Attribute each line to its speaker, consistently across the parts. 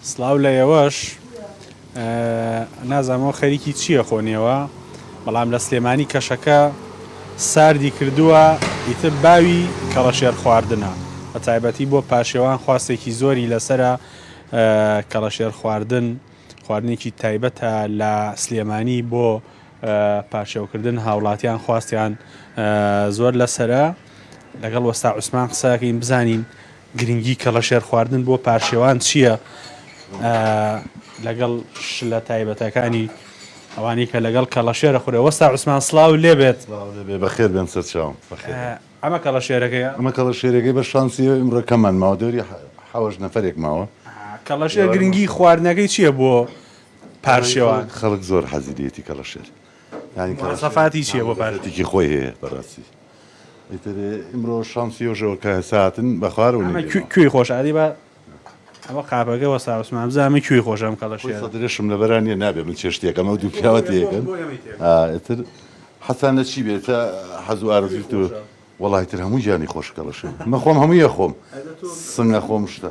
Speaker 1: سڵاو لە ئێوەش نازانم ئەوە خەریکی چییە خۆ نێوە بەڵام لە سلێمانی کەشەکە ساردی کردووە ئیتر باوی کەڵەشێر خواردنە بە تایبەتی بۆ پاشێوان خواستێکی زۆری لەسرە کەڵەشێر خواردن خواردنێکی تایبەتە لە سلێمانی بۆ پاشێوکردن هاوڵاتیان خواستیان زۆر لەسرە لەگەڵ وەستا عوسمان قسەکەین بزانین گرنگی کەڵەشێر خواردن بۆ پارشێوان چییە لەگەڵ شلە تایبەتەکانی ئەوانی کە لەگەڵ کەڵەشێرە خورێ وەستا عوسمان سلااو لێ بێت بەخێر بێن
Speaker 2: سەرچاو ئەمە کەڵە
Speaker 1: شێرەکەی ئەمە کەڵە شێرەکەی بە
Speaker 2: شانسی ئمڕەکەمان ماوە دەوری حەوەش نەفرێک ماوە کەڵە شێر گرنگی
Speaker 1: خواردنەکەی چییە بۆ پارشێوان خەڵک زۆر
Speaker 2: حەزیدێتی کەڵە شێر ینی کەڵەفاتی
Speaker 1: چییە بۆ پارێکی خۆی هەیە
Speaker 2: بەڕاستی ئیتر ئیمرۆ شانسی یۆژەوە کە ساتن بە خوارەوە ئەمە نەیدەنەوە. کوێ کوێی خۆشە ئەدی با
Speaker 1: ئەوە قاپەکە وەستا عوسمان بزانە ئەمە کوێی خۆشە ئەم کەڵە خۆی شێرە. سەدرێشم لەبەرا نییە
Speaker 2: نابێ من چێشتێکەم ئەو دوو پیاوە تێکەن بۆ ئێمەی تێکەن. ئا ئیتر حەزتان لە چی بێ تا حەز و ئارەزووی تۆ خۆشە. وەڵا ئیتر هەموو گیانی خۆشە کەڵە شێرە من خۆم هەمووی ئەخۆم ئەدە تۆ سنگ ئەخۆم شتە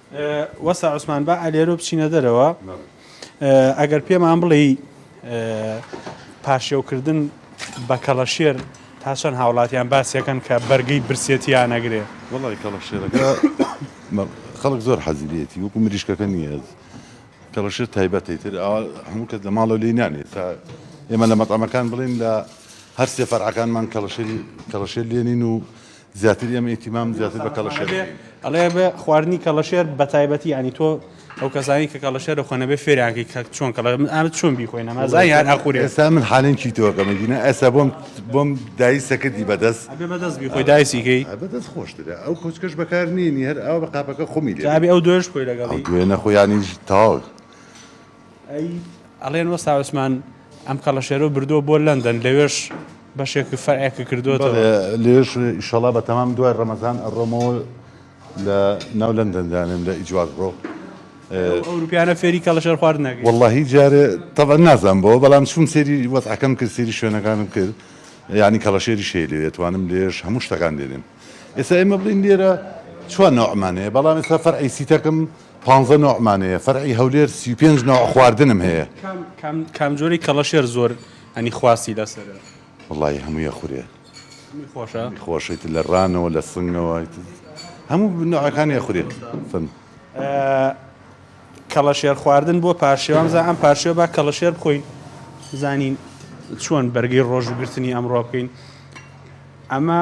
Speaker 1: وەستا عوسمان با ئەلێرۆ بچینە دەرەوە ئەگەر پێمان بڵێ پاشێوکردن بە کەڵەشێر تا چەند هاوڵاتیان باسیەکەن کە بەرگی برسێتیان نەگرێ وڵی کەڵەشێرەکە
Speaker 2: خەڵک زۆر حەزیلێتی وەکو مریشکەکە نییە کەڵەشێر تایبەتی تر هەموو کەس لە ماڵە لی نانێت تا ئێمە لە مەتەمەکان بڵین لە هەر سێ فەرعەکانمان کەڵەشێری کەڵەشێر لێنین و زیاتر ئێمە ئیتیمام زیاتر بە کەڵەشێر دەکەین. ئەڵێ بە
Speaker 1: خواردنی کەڵەشێر بە تایبەتی یانی تۆ ئەو کەسانی کە کەڵەشێر دەخۆن نەبێ فێریان کەی کە چۆن کەڵە من ئامە چۆن بیخۆینە مازای هەر ئاخوری ئێستا من حالەن
Speaker 2: چیتەوەکەمە گینە ئێستا بۆم بۆم دایی سەکردی بەدەست ئەبێ بەدەست بیخۆی
Speaker 1: دایسیکەی ئا بەدەست خۆشترە
Speaker 2: ئەو کۆچکەش بەکار نێنی هەر ئاوا بە قاپەکە خومی لێ بێ ئەبێ ئەو دوێش خۆی
Speaker 1: لەگەڵی دوێنە خۆ یانیش
Speaker 2: تاو
Speaker 1: ئەڵێن وەستا عوسمان ئەم کەڵەشێرەو بردووە بۆ لەندەن لەوێش بەشێکی فەرعێکی کردووەتەوە لێش
Speaker 2: ئیشەڵا بە تەمام دوای ڕەمەزان ئەڕۆمەوە لە ناو لەندەن دانێم لە ئیجواز ڕۆ ئەوروپیانە
Speaker 1: فێری کەڵەشێر خوارد نەگەی واللهی جارێ
Speaker 2: تەبە نازان بۆ بەڵام چون سێری وەزعەکەم کرد سێری شوێنەکانم کرد یعنی کەڵەشێری شێ لێ توانم لێش هەموو شتەکان دێنێم ئێستا ئێمە بڵین لێرە چوان نەوەمانەیە بەڵام ئێستا فەرعی سیتەکەم پانزە نەوعمان هەیە فەرعی هەولێر سی و پێنج نەوع خواردنم هەیە. کام جۆری
Speaker 1: کەڵەشێر زۆر هەنی خواستی لەسەرە؟ وەڵاهی هەمووی
Speaker 2: ئەخورێ هەمووی خۆشە
Speaker 1: هەمووی خۆشە ئیتر لە
Speaker 2: ڕانەوە لە سنگەوە ئیتر هەموو نەوعەکانی ئەخورێ فەرموو.
Speaker 1: کەڵەشێر خواردن بۆ پارشێو وامزا ئەم پارشێو با کەڵەشێر بخۆین بزانین چۆن بەرگەی ڕۆژوگرتنی ئەمڕۆ بکەین ئەمە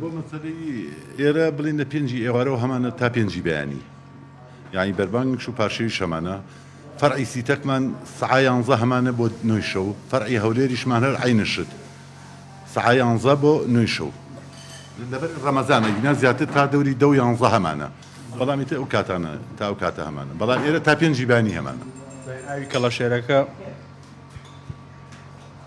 Speaker 2: بۆ مەسەلەی ئێرە بڵین لە پێنجی ئێوارەوە هەمانە تا پێنجی بەیانی یعنی بەربانگش و پارشەویش هەمانە فەرعی سیتەکمان سعیانزە هەمانە بۆ نوێی شەو فەرعی هەولێریشمان هەر عینشت سعیانزە بۆ نوێی شەو لەبەر ڕەمەزانە گنا زیاتر تا دەوری دە و یانزە هەمانە بەڵامی تە ئەو کاتانە تا ئەو کاتە هەمانە بەڵام ئێرە تا پێنجی بانی هەمانە ئاوی
Speaker 1: کەڵەشێرەکە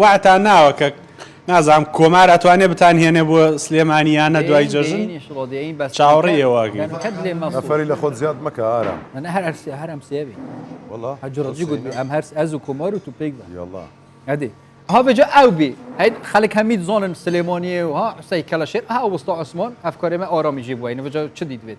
Speaker 1: واتان
Speaker 3: ناوە کە
Speaker 1: نازام کۆمار ئەتوانێ بتان هێنێ بۆ سلێمانیانە دوای جەژن چاوەڕێ ئێواگرن نەفەری
Speaker 3: لە خۆت زیاد مەکە ئارام من هەر هەرسێ هەرم
Speaker 4: سێبی والله هەجڕجی
Speaker 3: گوت ئەم
Speaker 4: هەرس ئەز و کۆمار و توپێک بە یاڵا ئەدی ها بەجا ئەو بی هەیت خەلک هەمید زۆنن سلێمانیە و ها قسەی کەلەشێر ها وەستا عوسمان ئەفکارێمە ئارامیژی بووین بەجا چ دیت بێت